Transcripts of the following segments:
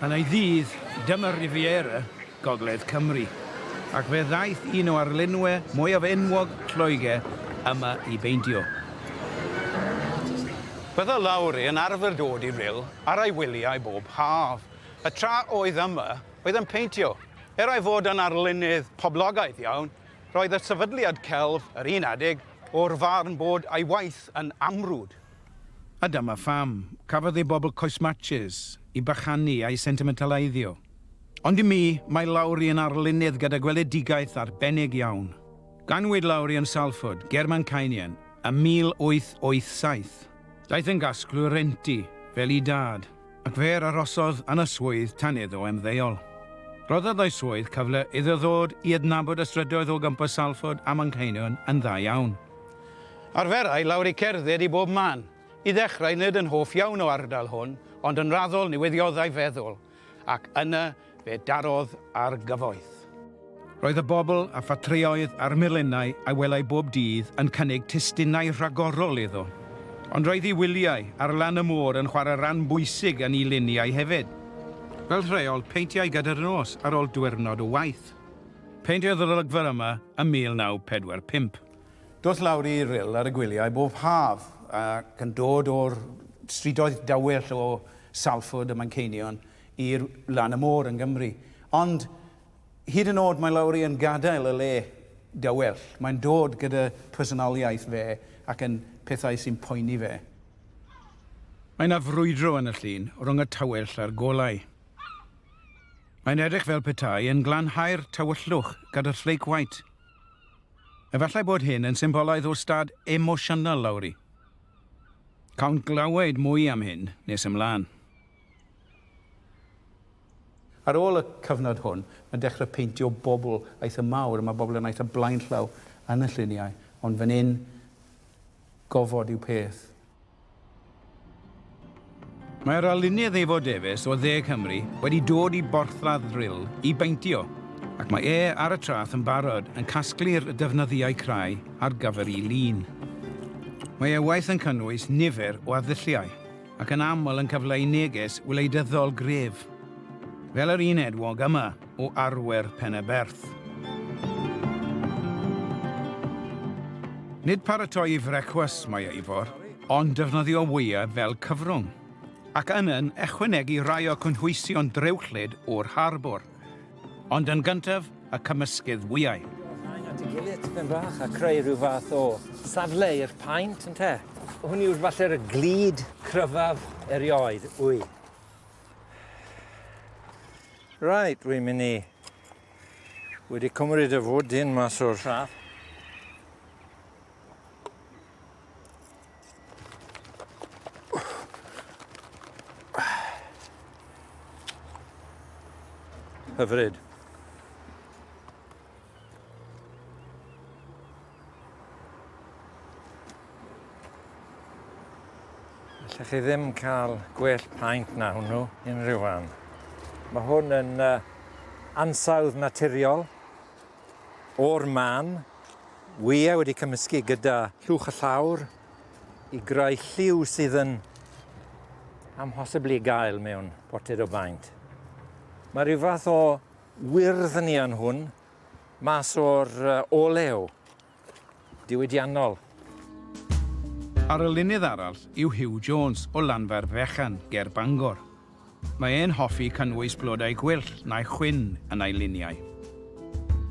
Yn ei ddydd, dyma Riviera gogledd Cymru, ac fe ddaeth un o arlunwe mwyaf enwog Lloegr yma i beintio. Bydda Lowry yn arfer dod i Rhyl ar ei wyliau bob haf, y tra oedd yma oedd yn peintio. Er ei fod yn arlunydd poblogaidd iawn, roedd y sefydliad celf yr un adeg o'r farn bod ei waith yn amrwd. A dyma pham, cafodd ei bobl coes matches i bachanu a'i sentimentaleiddio. Ond i mi, mae Lowri yn arlunydd gyda gweledigaeth arbennig iawn. Ganwyd Lowri yn Salford, ger Manceinion, ym 1887. Daeth yn gasglwr rhentu, fel ei dad. Ac fe arosodd yn y swydd tan iddo ymddeol. Rhoddodd ei swydd cyfle iddo ddod i adnabod y strydoedd o gwmpas Salford a Manceinion yn dda iawn. Arferai Lowri cerdded i bob man, i ddechrau nid yn hoff iawn o ardal hwn, ond yn raddol newiddiodda'i feddwl, ac yna Fe darodd ar gyfoeth. Roedd y bobl a ffatrïoedd a'r milennau a welai bob dydd yn cynnig testunau rhagorol iddo. Ond roedd ei wyliau ar lan y môr yn chwarae ran bwysig yn ei luniau hefyd. Fel rheol, peintiai gyda'r nos ar ol diwyrnod o waith. Peintiodd yr olygfa yma ym 1945. Doth lawr i Rhyl ar y gwyliau bob haf, ac yn dod o'r strydoedd dawel o Salford a Manceinion i'r lan y môr yng Nghymru. Ond hyd yn oed mae Lowri yn gadael y le dawel, mae'n dod gyda phersonoliaeth fe ac yn pethau sy'n poeni fe. Mae yna frwydro yn y llun rhwng y tywyll a'r golau. Mae'n edrych fel petai yn glanhau'r tywyllwch gyda flake white. Efallai bod hyn yn symbolaidd o stad emosiynol Lowri. Cawn glywed mwy am hyn nes ymlaen. Ar ôl y cyfnod hwn, mae'n dechrau peintio bobl eitha mawr, a mae bobl yn eitha blaenllaw yn y lluniau, ond fan hyn, gofod yw peth. Mae'r arlunydd Evo Davies o Dde Cymru wedi dod i borthladd Rhyl i beintio, ac mae e ar y traeth yn barod yn casglu'r defnyddiau crai ar gyfer ei lun. Mae ei waith yn cynnwys nifer o arddulliau. ac yn aml yn cyfleu neges wleidyddol gref, fel yr un edwog yma o arwyr Peneberth. Nid paratoi i frecwast mae Eivor, ond defnyddio wyau fel cyfrwng, ac yna'n ychwanegu rhai o cynhwysion drewllyd o'r harbwr. Ond yn gyntaf, y cymysgedd wyau. At ei gilydd tipyn bach a creu rhyw fath o safle i'r paent, ynte? Hwn yw'r falle'r glud cryfaf erioed, wy. Right, wy'n mynd i... Wedi cymryd y fwdyn mas o'r siap. Hyfryd. Lle chi ddim cael gwell paent na hwnnw unrhyw fan. Mae hwn yn uh, ansawdd naturiol o'r man wyau wedi cymysgu gyda llwch y llawr i greu lliw sydd yn amhosibl i gael mewn portread o baent. Mae rhyw fath o wyrdd yn iawn hwn mas o'r olew diwydiannol. Arlunydd arall yw Huw Jones o Lanfair Fechan ger Bangor. Mae e'n hoffi cynnwys blodau gwyllt neu chwyn yn ei luniau.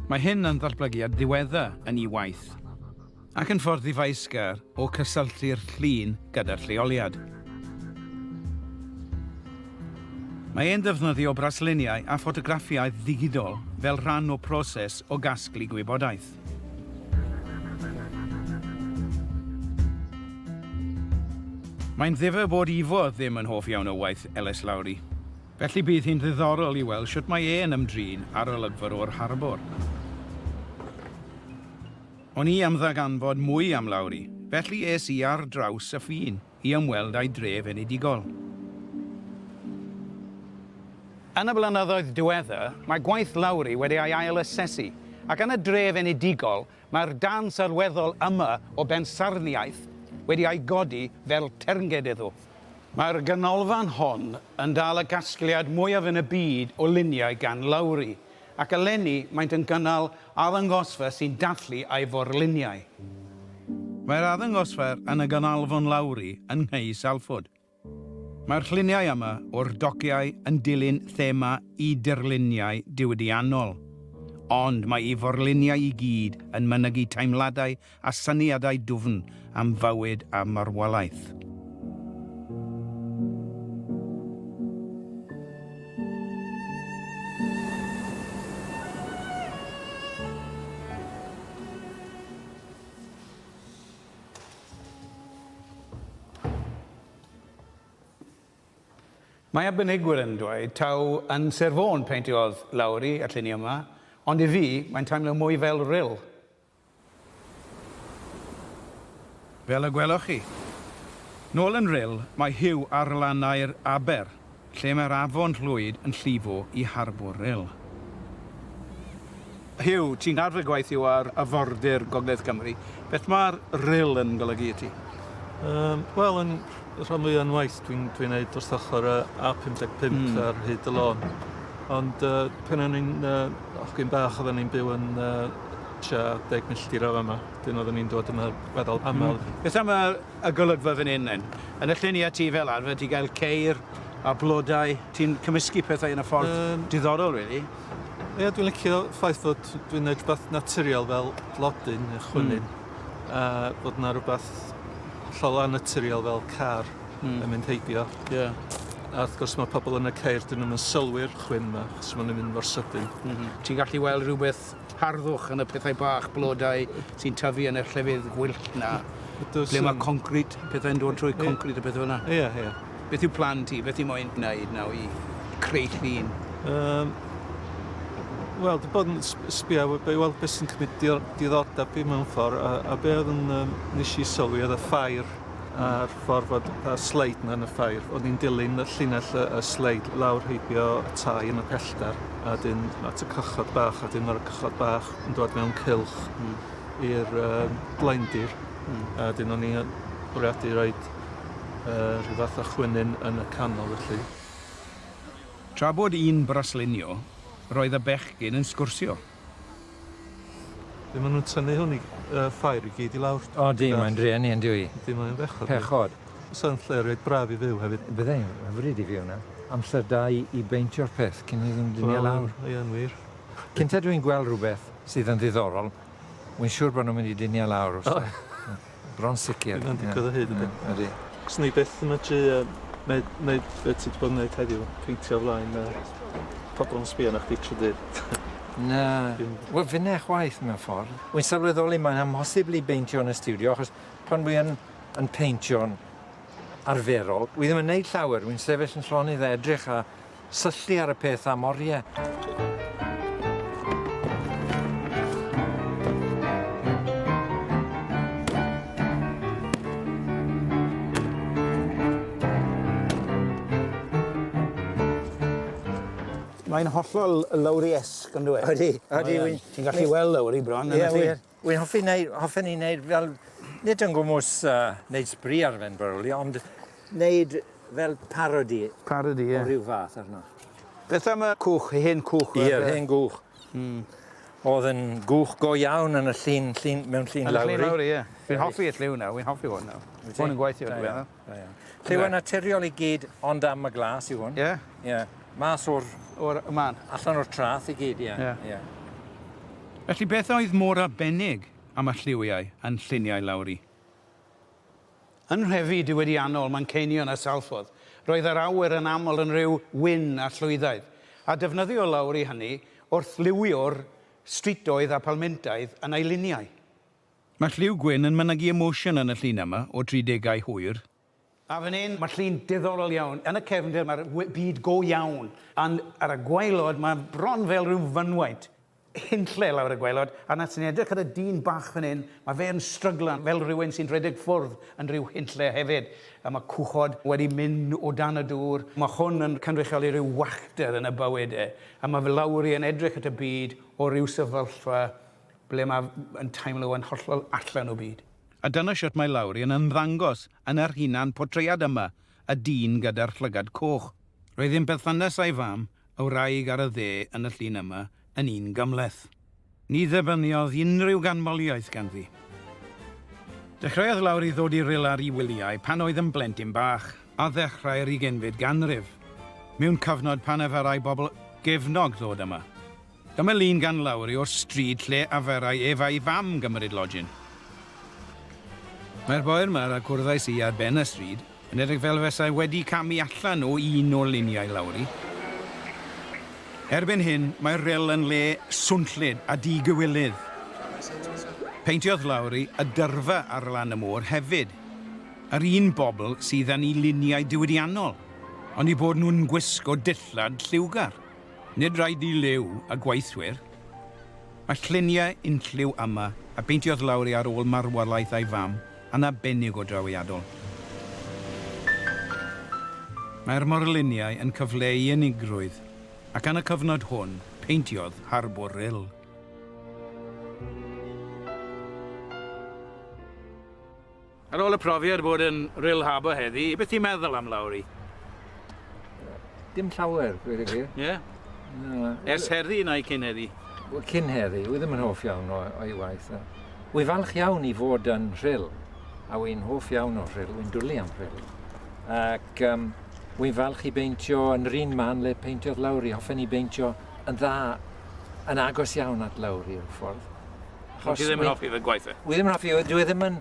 Mae hyn yn ddatblygiad diweddar yn ei waith, ac yn ffordd ddifaesgar o cysylltu'r llun gyda'r lleoliad. Mae e'n defnyddio brasluniau a ffotograffiaeth ddigidol fel rhan o broses o gasglu gwybodaeth. Mae'n ddifyr bod Ifor ddim yn hoff iawn o waith Elis Lowry, felly bydd hi'n ddiddorol i weld shwt mae e'n ymdrin â'r olygfa o'r harbwr. O'n i am ddarganfod mwy am Lowry, felly es i ar draws y ffin. i ymweld â'i dref enedigol. Yn y blynyddoedd diweddar, mae gwaith Lowri wedi ei ail-asesu, ac yn y dref enedigol, mae'r darn sylweddol yma o bensaernïaeth wedi ei godi fel ternged iddo. Mae'r ganolfan hon yn dal y casgliad mwyaf yn y byd o luniau gan Lowri, ac eleni maent yn gynnal arddangosfa sy'n dathlu ei forluniau. Mae'r arddangosfa yn y Ganolfan Lowri yng Nghy Salford. Mae'r lluniau yma o'r dociau yn dilyn thema y dirluniau diwydiannol, ond mae ei forluniau i gyd yn mynygu teimladau a syniadau dwfn am fywyd a marwolaeth. Mae arbenigwyr yn dweud taw yn Sir Fôn peintiodd Lowri y lluniau yma, ond i fi, mae'n teimlo mwy fel ril. Fel y gwelwch chi. Nôl yn Rhyl, mae Huw ar lannau'r aber, lle mae'r afon Llwyd yn llifo i harbwr Rhyl. Huw, ti'n arfer gweithio ar afordir Gogledd Cymru. Beth mae'r Rhyl yn golygu i ti? Wel, yn rhan fwya o'n waith dwi'n dwi wneud wrth ochr y A55 mm. ar hyd y lôn. Ond uh, pan o'n i'n uh, ochgyn bach, oedden ni'n byw yn uh, tua deg milltir o fama. Dyn oedden ni'n dod yma feddwl aml. Mm. Beth am y, y golygfa fan hyn, then? Yn y llun i a ti fel arfer, ti gael ceir a blodau. Ti'n cymysgu pethau yn y ffordd um, diddorol, really. Ie, yeah, dwi'n licio ffaith fod dwi'n gwneud rhywbeth naturiol fel blodyn neu chwynyn. Mm. A bod yna rhywbeth hollol annaturiol fel car mm. yn mynd heibio. Yeah. A wrth gwrs mae pobl yn y ceir, dyn nhw'n sylwi'r chwyn yma, chos maen mynd mor sydyn. Mm -hmm. Ti'n gallu weld rhywbeth harddwch yn y pethau bach, blodau sy'n tyfu yn y llefydd gwyllt na. Ydw, ble mae concrit, pethau'n dod trwy concrit a pethau yna. Ie, ie. Beth yw plan ti? Beth ti moyn wneud nawr i creu llun? Yym, wel, dwi bod yn sbio i weld beth sy'n cymryd diddordeb fi mewn ffordd, a, a be oedd yn um, nes i sylwi oedd y ffair a'r ffordd fod y sleid yna yn y ffair. O'n i'n dilyn y llinell y, y sleid lawr heibio y tai yn y pellter, a dyn at y cychod bach, a dyn ar y cychod bach yn dod mewn cilch mm. i'r um, blaendir. Mm. A dyn o'n i'n bwriadu roed yy rhyw fath o chwynyn yn y canol felly. Tra bod yn braslunio, roedd y bechgyn yn sgwrsio. Be maen nhw'n tynnu hwn i yy ffair i gyd i lawr? O di, mae'n drueni yn dyw i. Yndi, mae'n bechod. Pechod. Sa'n lle reit braf i fyw hefyd. Bydde, hyfryd i fyw na. Amser da i i beintio'r peth cyn iddyn nhw dynnu e lawr. Wel, ie'n wir. Cynta dwi'n gweld rhywbeth sydd yn ddiddorol, wi'n siŵr bod nhw'n mynd i dynnu e lawr wrtha i. Bron sicr. Bydd o'n digwydd o hyd yn beth. Ydy. Os ni byth yn medru yy neud neud be' ti 'di bod yn neud heddiw, peintio o flaen yy pobol yn sbio arna chdi trw dydd. Na. Dim. Wel finne chwaith mewn ffordd. Wi'n sylweddoli mae'n amhosibl i beintio yn y stiwdio achos pan wi yn yn peintio'n arferol wi ddim yn neud llawer, wi'n sefyll yn llonydd a edrych a Syllu ar y peth am oriau. Mae'n hollol lowriesque on'd yw e? Odi, odi wir. Ti'n gallu weld lowri bron yn y llyn. Ie wir. Wi'n hoffi neu hoffen i neud fel nid yn gwmws yy neud sbri ar ben Burley ond neud fel parodi. Parodi ie. O ryw fath arno. Beth am y cwch, y hen cwch? Ie yr hen gwch. Hmm. O'dd yn gwch go iawn yn y llun llun mewn llun lawr i. Yn y llun lawr ie. Fi'n hoffi y lliw 'na, wi'n hoffi 'wn nawr. Wyt ti? Ma' 'wn yn gweithio dwi meddwl. Da iawn. Lliwau naturiol i gyd, ond am y glas yw hwn. Ie. Ie. Mas o'r... O'r man. Allan o'r trath i gyd, ie. Ie. Ie. Felly beth oedd mor arbennig am y lliwiau yn lluniau Lowri? Yn nhrefi diwydiannol Manceinion a Salford, roedd yr awyr yn aml yn rhyw wyn a llwyddaidd, a defnyddiodd Lowri hynny wrth liwio'r strwythurau a phalmentau yn ei luniau. Mae lliw gwyn yn mynegi emosiwn yn y llun yma, o tri degau hwyr. A fan hyn, mae llun diddorol iawn. Yn y cefndir mae'r byd go iawn, ond ar y gwaelod mae bron fel rhyw fynwaent hunlle lawr y gwaelod, a na ti'n edrych ar y dyn bach fan hyn, mae fe yn stryglan fel rhywun sy'n rhedeg ffwrdd yn rhyw hunlle hefyd, a mae cwchod wedi mynd o dan y dŵr. Mae hwn yn cynrychioli rhyw wacter yn y bywyd e, a mae fe lawr i yn edrych at y byd o ryw sefyllfa Ble mae yn teimlo yn hollol allan o byd. A dyna shwt mae Lowri yn ymddangos yn yr hunan portread yma, y dyn gyda'r llygad coch. Roedd ddim perthynas a'i fam, y wraig ar y dde yn y llun yma, yn un gymhleth. Ni ddibyniodd unrhyw ganmoliaeth ganddi. Dechreuodd Lowri ddod i ril ar ei wyliau pan oedd yn blentyn bach, ar ddechrau'r ugenfyd ganrif, mewn cyfnod pan efarai bobl gefnog ddod yma. Dyma lun gan Lowri o'r stryd lle aferai ef a'i fam gymryd lojin. Mae'r boi yma a cwrddais i ar ben y stryd yn edrych fel fesai wedi camu allan o un o luniau Lowri. Erbyn hyn, mae'r rhyl yn le swnllyd a di-gywilydd. Peintiodd Lowri y dyrfa ar lan y môr hefyd, yr un bobl sydd yn ei luniau diwydiannol, ond eu bod nhw'n gwisgo dillad lliwgar. Nid rhaid i liw a gweithwyr a lluniau unlliw Amma, a beintiodd lawr i ar ôl marwolaeth ei fam, yn arbennig o drawiadol. Mae'r morluniau yn cyfleu ei unigrwydd, ac yn y cyfnod hwn, peintiodd Harbwr Rhyl. Ar ôl y profiad bod yn Rhyl Harbour heddi, beth ti'n meddwl am Lowry? Dim llawer, dweud y gwir. Ie? Na. Ers heddi neu cyn heddi? Wel, cyn heddi, wy ddim yn hoff iawn o'i waith. Wy falch iawn i fod yn Rhyl, a wy'n hoff iawn o Rhyl, wy'n dwlu am Rhyl. Ac um, wy'n falch i beintio yn yr un man le peintiodd Lowry. Hoffen i beintio yn dda, yn agos iawn at Lowry, yn ffordd. Achos... Ti ddim yn hoffi fy gwaith e? Wi ddim yn hoffi, e, dwi e ddim yn...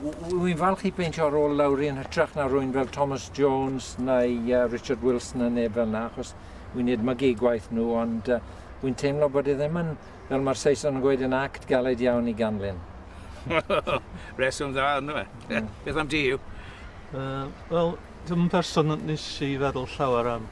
Wi'n falch i beintio ar ôl lawr yn hytrach na rwy'n fel Thomas Jones neu uh, Richard Wilson yn neb fel yna, achos wi'n edmygu gwaith nhw, ond uh, wi'n teimlo bod e ddim yn, fel mae'r Saeson yn gweud, yn act galed iawn i ganlyn. Reswm dda ynddo fe. Mm. Beth am di yw? Uh, Wel, dim yn person nes i feddwl llawer am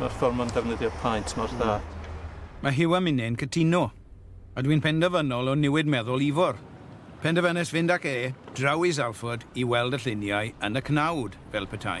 Mae'r ffordd mae'n defnyddio paent mor dda. Mae Huw a minne'n cytuno. A dwi'n penderfynol o niwid meddwl Ifor. Penderfynais fynd ac e draw i Salford i weld y lluniau yn y cnawd, fel petai.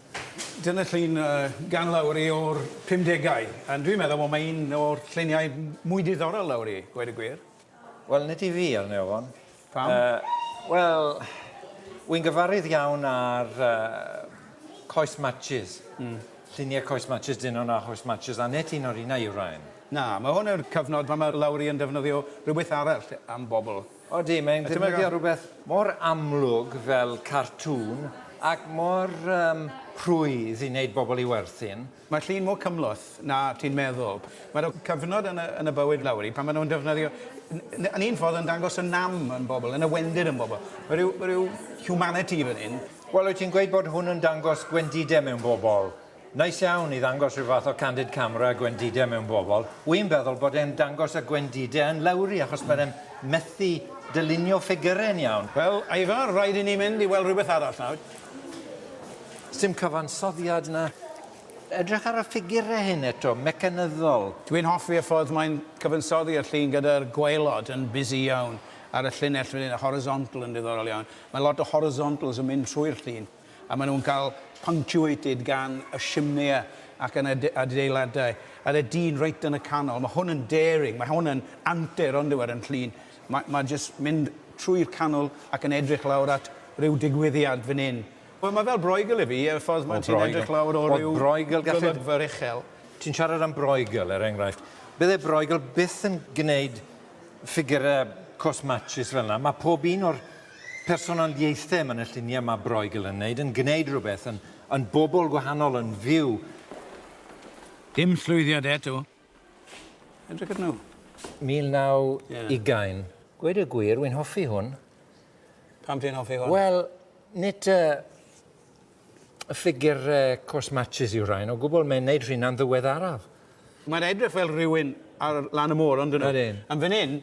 Dyna llun gan Lowri o'r pumdegau, and dwi'n meddwl bod mae un o'r lluniau mwy diddorol Lowri, gweud y gwir. Wel, nid i fi, arni ofon. Pam? Wel, wy'n gyfarwydd iawn â'r coes matches, lluniau coes matches Dynon a choes matches Annet, un o'r unau yw Ryan. Na, mae hwn yw'r cyfnod pan mae Lowri yn defnyddio rhywbeth arall am bobl. Odi, mae'n defnyddio rhywbeth mor amlwg fel cartŵn ac mor yym rhwydd i wneud bobl i werthin. Mae llun mor cymhleth na ti'n meddwl. Mae 'na cyfnod yn y yn y bywyd Lowri pan maen nhw'n defnyddio n- yn un ffordd yn dangos y nam yn bobl, yn y wendid yn bobl. Mae rhyw, mae rhyw humanity fan hyn. Wel, wyt ti'n gweud bod hwn yn dangos gwendidau mewn bobl? Neis iawn i ddangos rhyw fath o candid camera gwendide mewn bobl. Wi'n feddwl bod e'n dangos y gwendide yn lawri achos mae fe'n methu dylunio ffigyrau'n iawn. Wel, Ivar, rhaid i ni mynd i weld rhywbeth arall nawr. Sdim cyfansoddiad 'na. Edrych ar y ffigyrau hyn eto, mecanyddol. Dwi'n hoffi y ffordd mae'n cyfansoddi y llun gyda'r gwaelod yn busy iawn ar y llinell fan hyn, y horizontal yn ddiddorol iawn. Mae lot o horizontals yn mynd trwy'r llun. a maen nhw'n cael punctuated gan y simnea ac yn y adeiladau, a'r y dyn reit yn y canol. Mae hwn yn daring, mae hwn yn antur ond yw ar yn llun. Mae, mae jyst mynd trwy'r canol ac yn edrych lawr at rhyw digwyddiad fan hyn. Wel, mae fel Broigel i fi, y ffordd mae ti'n edrych lawr o ryw golygfa uchel. Ti'n siarad am Broigel, er enghraifft. Bydde Broigel byth yn gwneud ffigurau cwrs matshis fel yna. Mae pob un o'r Personoliaethau mae 'na lluniau mae Broeigl yn wneud, yn gwneud rhywbeth, yn yn bobl gwahanol, yn fyw. Dim llwyddiad eto. Edrych arnyn nhw. 1920. Gweud y gwir, wi'n hoffi hwn. Pam ti'n hoffi hwn? Wel, nid y ffigur cwrs matshis yw rhain o gwbl, mae'n neud rheina'n ddiweddaraf. Mae'n edrych fel rhywun ar lan y môr on'd yw? Ydyn. Yn fan 'yn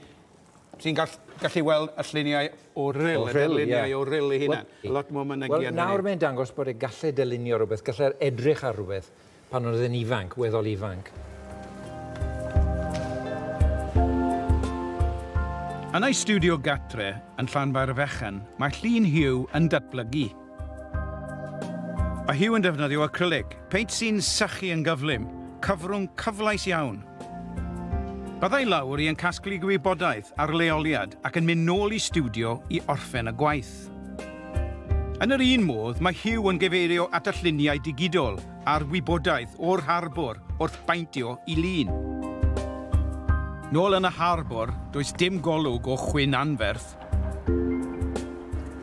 ti'n gall- gallu weld y lluniau o ril... O ril, ie. ...y darluniau o ril ei hunan. Wel... Lot mwy mynegi arnyn ni. Wel nawr mae'n dangos bod e galle dylunio rwbeth, galle'r edrych ar rwbeth. Pan oedd e'n ifanc, weddol ifanc. Yn ei stiwdio gartre yn Llanfairfechan, mae llun Hugh yn datblygu. Mae Hugh yn defnyddio acrylig, peint sy'n sychu yn gyflym, cyfrwng cyfleus iawn. Byddai Lowri yn casglu gwybodaeth ar leoliad ac yn mynd nôl i stiwdio i orffen y gwaith. Yn yr un modd, mae Hugh yn gyfeirio at y lluniau digidol a'r wybodaeth o'r harbwr wrth baentio i lun. Nôl yn y harbwr, does dim golwg o chwyn anferth.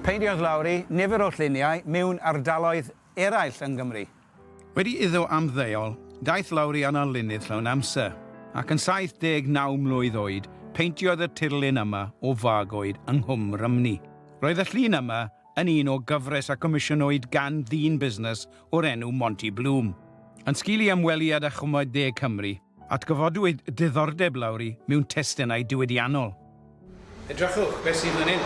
Peintiodd Lowry nifer o lluniau mewn ardaloedd eraill yng Nghymru. Wedi iddo ymddeol, daeth lawr i anallunydd llawn amser, ac yn 79 mlwydd oed, peintiodd y tirlun yma o fagoed yng Nghwm Rhymni. Roedd y llun yma yn un o gyfres a gomisiynwyd gan ddyn busnes o'r enw Monty Bloom. Yn sgil i ymweliad â Chwmai De Cymru, Atgyfodwyd diddordeb Lowry mewn testunau diwydiannol. Edrychwch beth sydd fan hyn.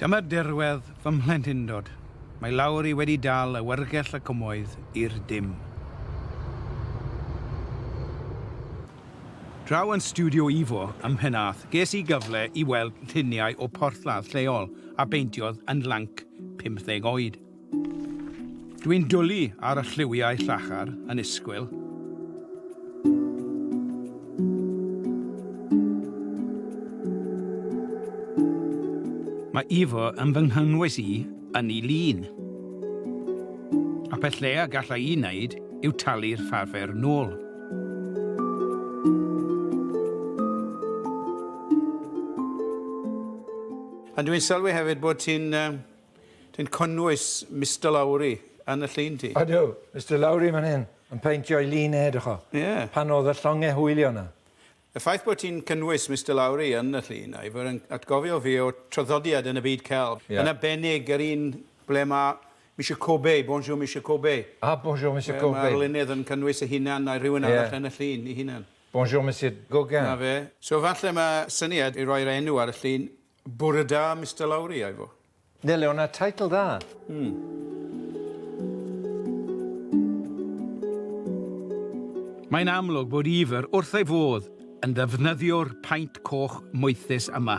Dyma dirwedd fy mhlentindod. Mae Lowry wedi dal awyrgell y cymoedd i'r dim. Draw yn Stiwdio Ivo ym Mhenarth ges i gyfle i weld lluniau o porthladd lleol a beintiodd yn lanc 50 oed. Dwi'n dwli ar y lliwiau llachar yn isgwyl. Mae Ivo yn fy nghynnwys i yn ei lun. A peth lleia galla i wneud yw talu'r farfer nôl. A dwi'n sylwi hefyd bod ti'n Dwi'n cynnwys Mister Lowry yn y llun ti. Ydw, Mister Lowry man hyn, yn peintio'i lun e, dych o. Ie. Pan oedd y llongau hwylio 'na. Y ffaith bod ti'n cynnwys Mister Lowry yn y llun, Ivor, yn atgofio fi o traddodiad yn y byd celf. Ie. Yn arbennig yr un ble mae Mister Corbet, Bonjour Mister Corbet. Ah, Bonjour Mister Corbet. Mae'r lunydd yn cynnwys ei hunan neu rhywun arall yn y llun ei hunan. Bonjour Mister Gauguin. 'Na fe. So falle mae syniad i roi'r enw ar y llun Bore da Mister Lowri, Ivo. Nele, o'na teitl dda. Mae'n amlwg bod Ivor wrth ei fodd yn ddefnyddio'r paent coch moethus yma.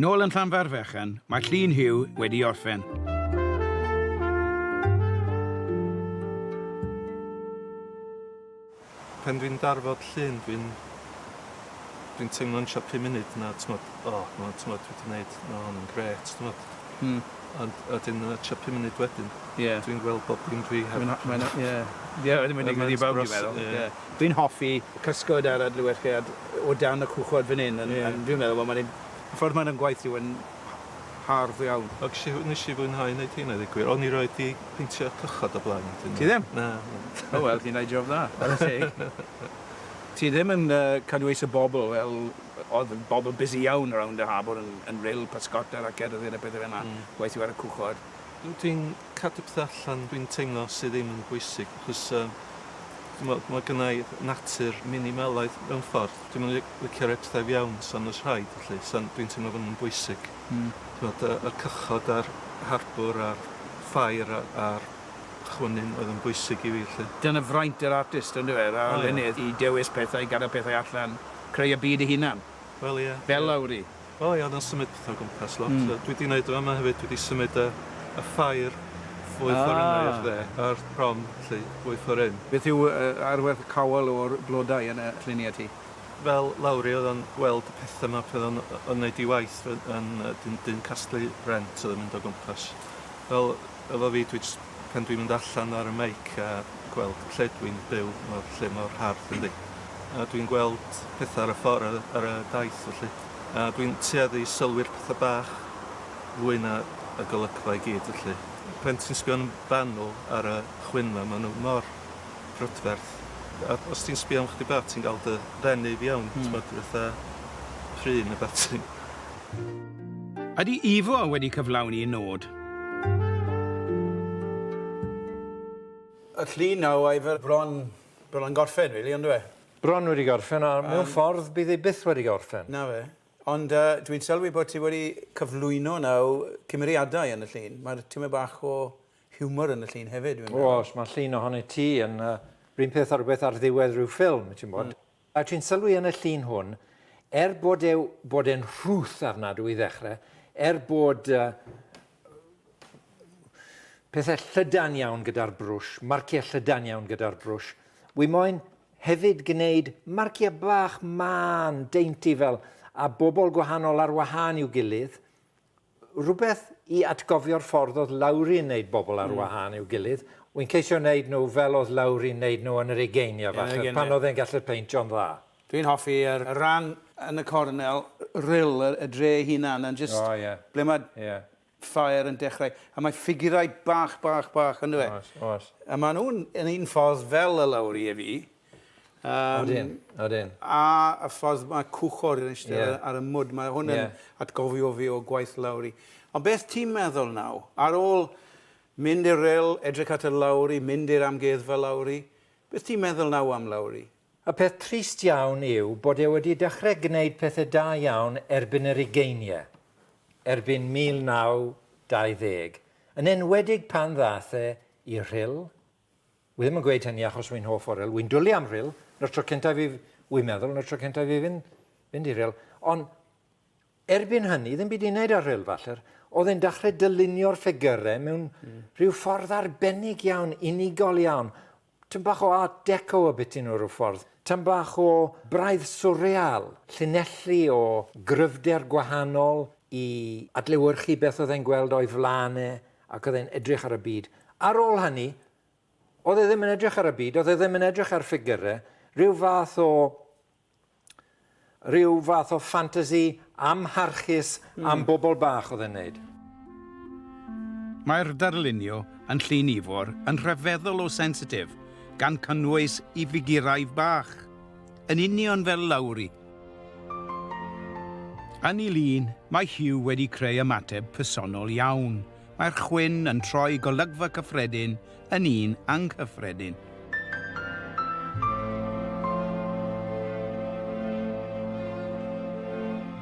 Nôl yn Llanfairfechan, mae Llun Huw wedi orffen. Pan dwi'n darfod llun dwi'n dwi'n teimlo'n siop pum munud na t'mod o ma' t'mod dwi 'di neud ma' hwn yn grêt t'mod. Hmm. Ond a 'dyn yy tua pum munud wedyn... Ie. ...dwi'n gweld bob dim dwi heb... Mae'n a- mae'n a- ie. Ie wedyn mae'n digwydd i bawb dwi'n meddwl. Ie. Dwi'n hoffi cysgod a'r adlewyrchiad o dan y cwchod fan hyn yn yn dwi'n meddwl wel ma'n neud y ffordd ma'n ymgweithio yn h- hardd iawn. Ac isi w- nesh i fwynhau neud rheina ddeu gwir. O'n i roid 'di peintio cychod o blaen wedyn. Ti ddim? Na. O wel ti'n neud job dda. Chware teg. Ti ddim yn yy cadw eis y bobl fel odd y bobl busy iawn rownd y harbwr yn yn ril pysgota a cerdded a pethe fel 'na. Hmm. Gweithio ar y cwchod. Dw ti'n Cadw pethau allan dwi'n teimlo sydd ddim yn bwysig achos yym ch'mod ma' gynnai natur minimalaidd mewn ffordd. Dwi'm yn li- licio roi pethau i fiewn san o's rhaid felly san dwi'n teimlo fo' nw'n bwysig. Hmm. T'mod yy y cychod a'r harbwr a'r ffair a a'r chwynyn oedd yn bwysig i fi felly. Dyna fraint yr artist yndyw e? Yr arlunydd i dewis pethau, gadel pethau allan, creu y byd ei hunan. Wel ie ie. Fel Lowri. O ia oedd o'n symud petha o gwmpas lot. Hmm. Dwi 'di neud drama hefyd dwi 'di symud y y ffair fwy ffor hynna i'r Ah. dde a'r prom 'lly fwy ffor hyn. Beth yw y arwerth cawel o'r blodau yn y lluniau ti? Fel Lowri oedd o'n gweld y petha 'ma pan oedd o'n yy yn neud ei waith yn yn yy dyn dyn casglu rent oedd yn mynd o gwmpas. Fel Efo fi, dwi jyst, pan dwi'n mynd allan ar y meic a gweld lle dwi'n byw, ma' lle mor hardd yndi? A dwi'n gweld petha ar y ffor a- ar y daith felly. A dwi'n tueddu i sylwi'r petha bach fwy na y golygfa i gyd felly. Pan ti'n sbio'n fanwl ar y chwyn ma', ma' nw mor brydferth. A os ti'n sbio am chydig bach ti'n ga'l dy ddenu i fiawn. Hmm. T'mod fatha pry ne' wbath ti'n Ydy Ivo wedi cyflawni nod? Y llun nawr oedd e bron, bron yn gorffen rili on'd yw e? Bron wedi gorffen a mewn ffordd bydd e byth wedi gorffen. Na fe. Ond yy dwi'n sylwi bod ti wedi cyflwyno nawr cymeriadau yn y llun. Mae'r tymed bach o hiwmor yn y llun hefyd dwi'n meddwl. Oes, mae llun ohoni ti yn yy 'run peth â rhywbeth ar ddiwedd rhyw ffilm ti'n gwbod. A dwi'n sylwi yn y llun hwn, er bod e bod e'n rhuth arnadw i ddechrau, er bod uh, pethau llydan iawn gyda'r brwsh, marciau llydan iawn gyda'r brwsh, wy moyn hefyd gwneud marciau bach man, deinty fel, a bobl gwahanol ar wahân i'w gilydd, Rhywbeth i atgofio'r ffordd oedd Lowri yn wneud bobl ar wahân i'w gilydd. Wi'n ceisio wneud nhw fel oedd Lowri'n wneud nhw yn yr ugeiniau falle, pan oedd e'n gallu'r peintio'n dda. Dwi'n hoffi y rhan yn y cornel, rhyl y dre ei hunan yn jyst... O ie. ...ble mae ffair yn dechrau. A mae ffigurau bach, bach, bach, yn dyw e? Oes, oes. A maen nhw'n yn un ffordd fel y Lowri i fi. Um, odin, odin. A y ffordd mae cwchor yn eistedd yeah. ar y mwd, mae hwn yn yeah. atgofio fi o gwaith lawri. Ond beth ti'n meddwl naw? Ar ôl mynd i'r rel, edrych at y lawri, mynd i'r amgueddfa lawri, beth ti'n meddwl naw am lawri? Y peth trist iawn yw bod e wedi dechrau gwneud pethau da iawn erbyn yr ugeiniau, erbyn 1920, yn enwedig pan ddath e i'r rhyl, Wi ddim yn gweud hynny achos wi'n hoff o rhyl. Wi'n dwlu am rhyl. Na'r tro cyntaf i... Wi'n meddwl, na'r tro cyntaf i fynd, fynd i rhyl. Ond erbyn hynny, ddim byd i'n neud ar rhyl falle. Oedd e'n dechrau dylunio'r ffigurau mewn mm. rhyw ffordd arbennig iawn, unigol iawn. Tyn bach o art deco y bit nhw rhyw ffordd. Tyn bach o braidd swreal, llinellu o gryfder gwahanol i adlewyrchu beth oedd e'n gweld o'i flaen e. Ac oedd e'n edrych ar y byd. Ar ôl hynny, oedd e ddim yn edrych ar y byd, oedd e ddim yn edrych ar ffigyrau, rhyw fath o rhyw fath o ffantasi amharchus mm. am bobl bach oedd e'n neud. Mae'r darlunio yn Llyn Ifor yn rhyfeddol o sensitif, gan cynnwys i figurau bach. Yn union fel Lowri. Yn ei lun, mae Hugh wedi creu ymateb personol iawn. Mae'r chwyn yn troi golygfa cyffredin yn un anghyffredin.